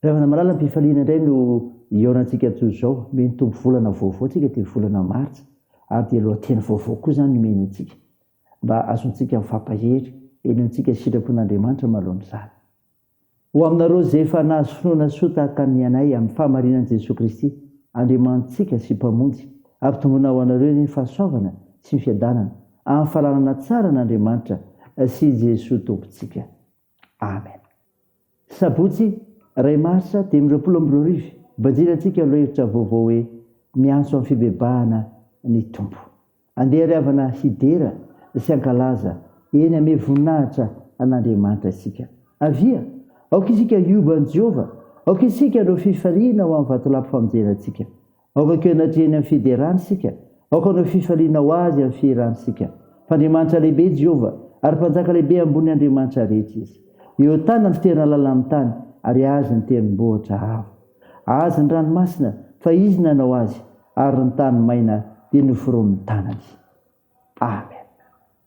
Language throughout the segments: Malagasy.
Ravina malala mpifaliana indray no hihaonantsika toy izao, mey ny Tompo volana vaovao antsika dia volana martsa ary dia lohateny vaovao koa izany omeny antsika mba azontsika mifampahery, henontsika sitrapon'Andriamanitra malohan'izany. Ho aminareo izay efa nahazo finoana soa tahaka ny anay amin'ny fahamarinan'i Jesoa Kristy, Andriamanitsika sy Mpamonjy, ampitomboina ho anareo anie ny fahasoavana sy ny fiadanana amin'ny fananana tsara an'Andriamanitra sy Jesoa Tompontsika. Amen. Sabotsy iray marsa dimy amby roapolo amby roa arivo, banjina antsika lohahevitra vaovao hoe Miantso amin'ny Fibebahana ny Tompo. Andeha ry havana hidera sy hankalaza eny ame voninahitra an'Andriamanitra isika. Avia, aoka isika hioba an'i Jehovah, aoka isika hanao fifaliana ho amin'ny vatolampy famonjena antsika. Aoka ko hianatria eny amin'ny fiderany isika, aoka hanao fifaliana ho Azy amin'ny fihirany isika, fa Andriamanitra lehibe i Jehovah, ary Mpanjaka lehibe ambony andriamanitra rehetra Izy. Eo an-tanany ny fitoerana lalina amin'ny tany, ary Azy ny tendrombohitra avo. Azy ny ranomasina, fa Izy nanao azy, ary ny tany maina dia noforonin'ny tanany. Amen.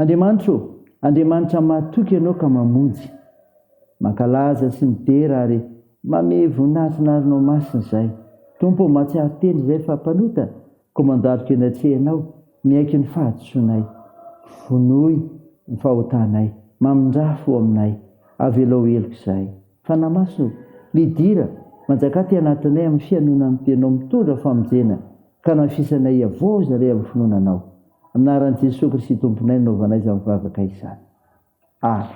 Andriamanitra ô, Andriamanitra mahatoky Ianao ka mamonjy. Mankalaza sy midera ary mamehy voninahitra ny arinao masina izahay. Tompo ô, mahatsiaro tena izahay fa mpanota, koa mandaroka eny an-tsehanao, miaiky ny fahadisoanay. Vonoy ny fahotanay, mamindrà fo aminay, avelao heloka izahay. Fanahy Masina ô, midira, manjakà aty anatinay amin'ny fihainoana ny Teninao, mitondra famonjena. Ka nafisanay hiavoza re amin'ny finoana Anao. Amin'ny anaran'i Jesoa Kristy Tomponay no nanaovanay izany vavaka izany. Amen.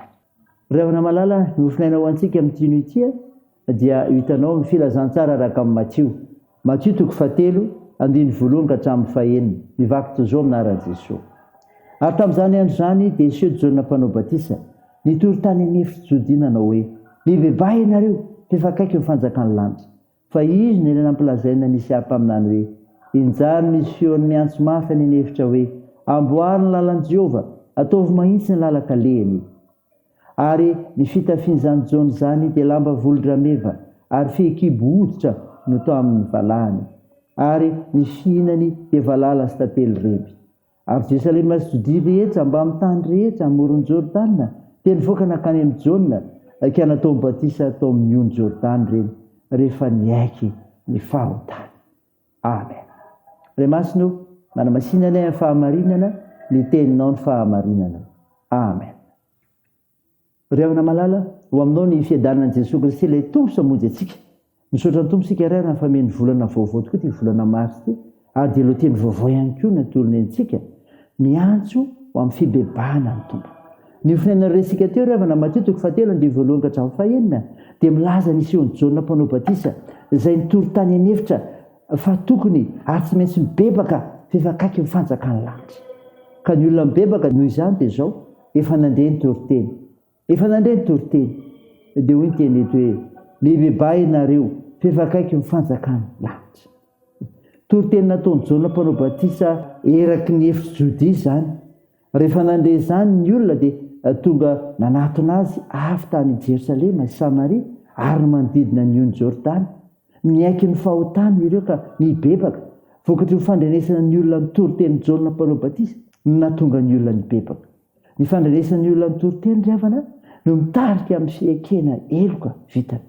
Ry havana malala, ny hofonaina ho antsika amin'ity hino ity dia io hitanao amin'ny Filazantsara araka amin'i Matio. Matio toko fahatelo, andininy voalohany ka hatramin'ny fahenina. Ny vaky toy izao amin'ny anaran'i Jesoa. Ary tamin'izany andro izany dia niseho Jaona Mpanao Batisa, nitory tany an'efitry Jodia nanao hoe, Mibebaha ianareo, f'efa akaiky ny fanjakan'ny lanitra. Fa izy no eny nampilazaina ny Isiahy mpaminany hoe, Enjano ny Siôny miantso mafy any an'efitra hoe, Amboary ny lalan'i Jehovah, ataovy mahitsy ny lalan-kalehiny. Ary ny fitafian'izany Jona izany dia lamba volodrameva, ary fehikibo hoditra no tao amin'ny valahany. Ary ny fihinany dia valala sy tantely remby. Ary Jerosalema sy Jodia rehetra, mbamin'ny tany rehetra amoron'i Jordana, dia nivoaka nankany amin'i Jaona, ka natao batisa tao amin'ny ony Jordana ireny, rehefa niaiky ny fahotany. Amen. Ray Masina ô, manamasina anay amin'ny fahamarinana, ny Teninao ny fahamarinana. Amen. Ry havana malala, ho aminao ny fiadanan'i Jesoa Kristy ilay Tompo sy Hamonjy antsika. Misaotra ny Tompo isika iray raha nifamehy ny volana vaovao tokoa ity volana Mars ity ary dia lohateny vaovao ihany koa no atolony antsika. Miantso ho amin'ny fibebahana ny Tompo. Ny ho finainan'ireo resika teo ry havana Matio toko fahatelo andininy voalohany ka hatramin'ny fahenina dia milaza ny hisehoan'i Jaona mpanao batisa izay nitory tany an'efitra fa tokony ary tsy maintsy mibebaka fa efa akaiky ny fanjakan'ny lanitra ka ny olona mibebaka noho izany dia izao Efa nandre ny toriteny. Efa nandre ny toriteny. Dia hoy ny teny eto hoe, Mibebà ianareo, f'efa akaiky ny fanjakan'ny lanitra. Toriteny nataon'i Jaona Mpanao Batisa eraky ny efitry Jodia izany. Rehefa nandre izany ny olona dia tonga nanatona azy avy tany Jerosalema sy Samaria ary ny manodidina ny ony Jordana. Miaiky ny fahotany ireo ka mibebaka. Vokatry ny fandrenesana ny olona ny toritenin'i Jaona Mpanao Batisa no nahatonga ny olona nibebaka. Ny fandrenesana ny olona ny toriteny, ry havana, no mitarika amin'ny fiekena heloka vitany.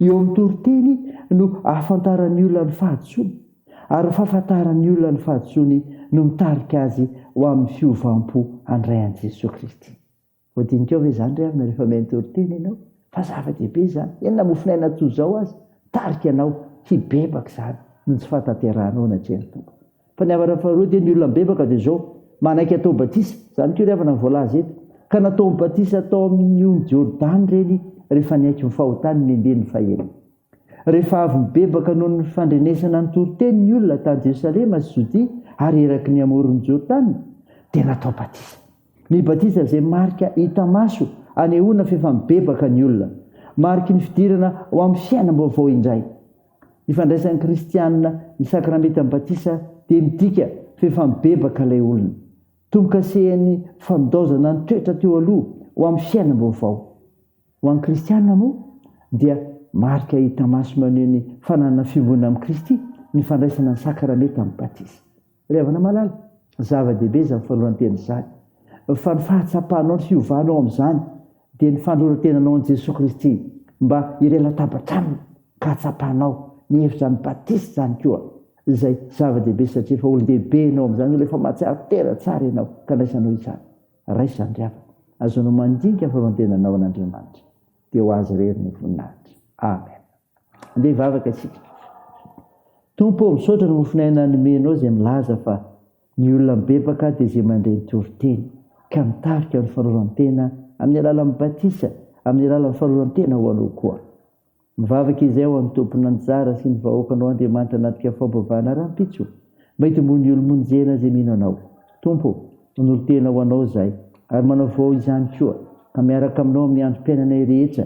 Eo amin'ny toriteny no ahafantaran'ny olona ny fahadisoany, ary ny fahafantaran'ny olona ny fahadisoany no mitarika azy ho amin'ny fiovam-po handray an'i Jesoa Kristy. Voadinikao ve izany ry havana rehefa mihaino toriteny ianao? Fa zava-dehibe izany. Eny na mofonaina toy izao aza, tarika anao hibebaka izany noho ny tsy fahatanterahanao anatrehan' ny Tompo. Fa ny havana faharoa dia ny olona mibebaka dia izao, manaiky hatao batisa, izany koa ry havana no voalaza eto, ka nataony batisa tao amin' ny ony Jordany ireny rehefa niaiky ny fahotany ny andininy fahenina. Rehefa avy nibebaka noho ny fandrenesana ny toriteny ny olona tany Jerosalema sy Jodia ary eraky ny amoron' ny Jordany dia natao batisa. Ny batisa izay marika hita maso anehoana f'efa mibebaka ny olona. Mariky ny fidirana ho amin'ny fiainam-baovao indray. Ny fandraisan'ny kristianina ny sakramentan'ny batisa dia midika f'efa mibebaka ilay olona. Tombo-kasehan'ny fandaozana ny toetra teo aloha ho amin'ny fiainam-baovao. Ho an'ny kristianina moa dia marika hita maso maneho ny fananana fiombonana amin'i Kristy ny fandraisana ny sakramentan'ny batisa. Ry havana malala, zava-dehibe izany fanoloran-tena izany, fa ny fahatsapanao ny fiovanao amin'izany dia ny fanoloran-tenanao an'i Jesoa Kristy mba hiray latabatra Aminy ka hatsapanao ny hevitr'izany batisa izany koa, izay zava-dehibe satria efa olon-dehibe ianao amin'izany, olona efa mahatsiaro tena tsara ianao ka andraisanao izany. Raiso izany ry havana, azonao mandinika ny fanoloran-tenanao an'Andriamanitra, dia ho Azy irery ny voninahitra. Amena. Andeha hivavaka isika. Tompo ô, misaotra ny mofon'aina nomenao izay milaza fa ny olona mibebaka dia izay mandre ny toriteny ka mitarika amin'ny fanoloran-tena amin'ny alalan'ny batisa, amin'ny alalan'ny fanoloran-tena ho Anao koa. Mivavaka izay ho an'ny tompon'anjara sy ny vahoakanao Andriamanitra anatrika faham-pivavahana rahampitso mba hitomboan'ny olo-monjena izay mino Anao. Tompo ô, manolo-tena ho Anao izahay ary manavao izany koa ka miaraka aminao amin'ny androm-piainanay rehetra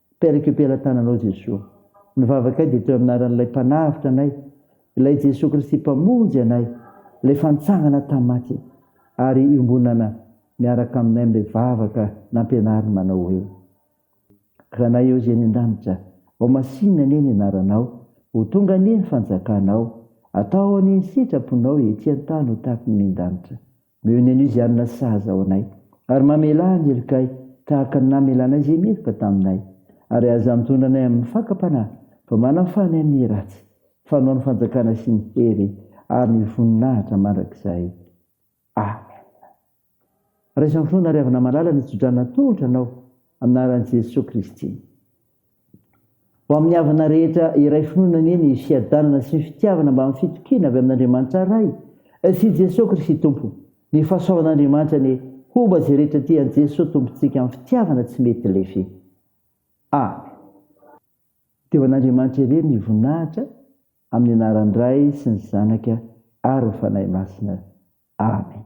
Père récupère tananao Jesoa. Ny vavakay dia teo amin'ny anaran'ilay Mpanavotra anay, ilay Jesoa Kristy Mpamonjy anay, ilay efa nitsangana tamin'ny maty, ary iombonana miaraka aminay amin'ilay vavaka nampianariny manao hoe, Ranay eo izay any an-danitra, ao masinina anie ny anaranao, ho tonga anie ny fanjakanao, atao anie ny sitraponao ety an-tany ho tahaka ny any an-danitra. Mion'e Nuziana sahaza ao anay, ary mamelà ny helokay tahaka ny namelanay izay meloka taminay. Ary aza mitondra anay amin'ny fakam-panahy, fa manafaha anay amin'ny ratsy, fa anao ny fanjakana sy ny hery ary ny voninahitra mandrakizay. Amena. Raiso amin'ny finoana ary avana malala ny tso-drano natolotra anao, amin'ny anaran'i Jesoa Kristy. Ho amin'ny havana rehetra iray finoana anie ny fiadanana sy ny fitiavana mbamin'ny fitokiana avy amin'Andriamanitra Ray sy i Jesoa Kristy Tompo. Ny fahasoavan'Andriamanitra anie homba izay rehetra tia an'i Jesoa Tompontsika amin'ny fitiavana tsy mety lefy. Amen. Dia ho an'Andriamanitra irery ny voninahitra amin'ny anaran'ny Ray sy ny Zanaka ary ny Fanahy Masina. Amen.